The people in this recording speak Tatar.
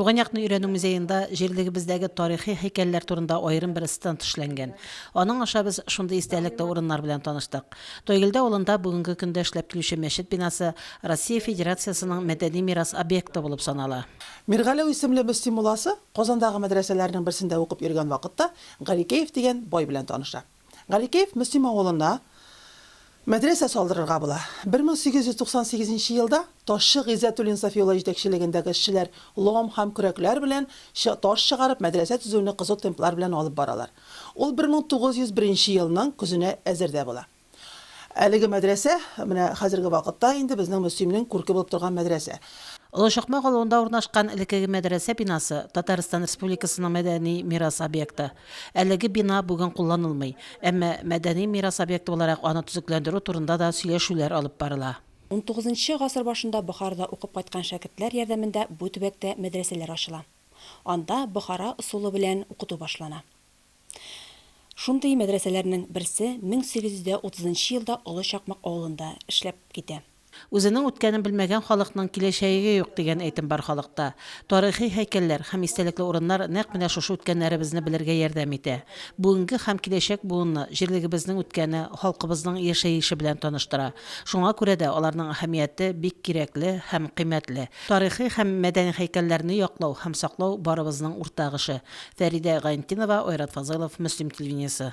Туган якны өйрәнү музеенда җирлегебездәге тарихи һәйкәлләр турында аерым бер стенд эшләнгән. Аның аша без шундый истәлекле урыннар белән таныштык. Тойгелдә авылында бүгенге көндә эшләп килүче мәчет бинасы Россия Федерациясенең мәдәни мирас объекты булып санала. Миргаләү исемле Мөслим мулласы Казандагы мәдрәсәләрнең берсендә укып йөргән вакытта Гарикеев дигән бай белән таныша. Галикеев Мөслим авылына мәдрәсә салдырырга була. 1898 нче елда ташчы Гыйззәтуллин Сафи улы җитәкчелегендәге эшчеләр лом һәм көрәкләр белән таш чыгарып, мәдрәсә төзүне кызу темплар белән алып баралар. Ул 1901 нче елның көзенә әзер дә була. Әлеге мәдрәсә, менә хәзерге вакытта инде безнең Мөслимнең күрке булып торган мәдрәсә. Олы Чакмак авылында урнашкан элеккеге мәдрәсә бинасы, Татарстан Республикасының мәдәни мирас объекты. Әлеге бина бүген кулланылмый, әмма мәдәни мирас объекты буларак аны төзекләндерү турында да сөйләшүләр алып барыла. Унтугызынчы гасыр башында Бохарада укып кайткан шәкертләр ярдәмендә бу төбәктә мәдрәсәләр ачыла. Анда Бохара ысулы белән укыту башлана. Шундый мәдрәсәләрнең берсе 1830 елда Олы Чакмак авылында эшләп китә. Үзенең үткәнен белмәгән халыкның киләчәеге юк, дигән әйтем бар халыкта. Тарихи һәйкәлләр һәм истәлекле урыннар нәкъ менә шушы үткәннәребезне белергә ярдәм итә. Бүгенге һәм киләчәк буынны җирлегебезнең үткәне, халкыбызның яшәеше белән таныштыра. Шуңа күрә дә аларның әһәмияте бик кирәкле һәм кыйммәтле. Тарихи һәм мәдәни һәйкәлләрне яклау һәм саклау барыбызның уртак эше. Фәридә Гайнтинова, Айрат Фазылов, Мөслим телевидениесе.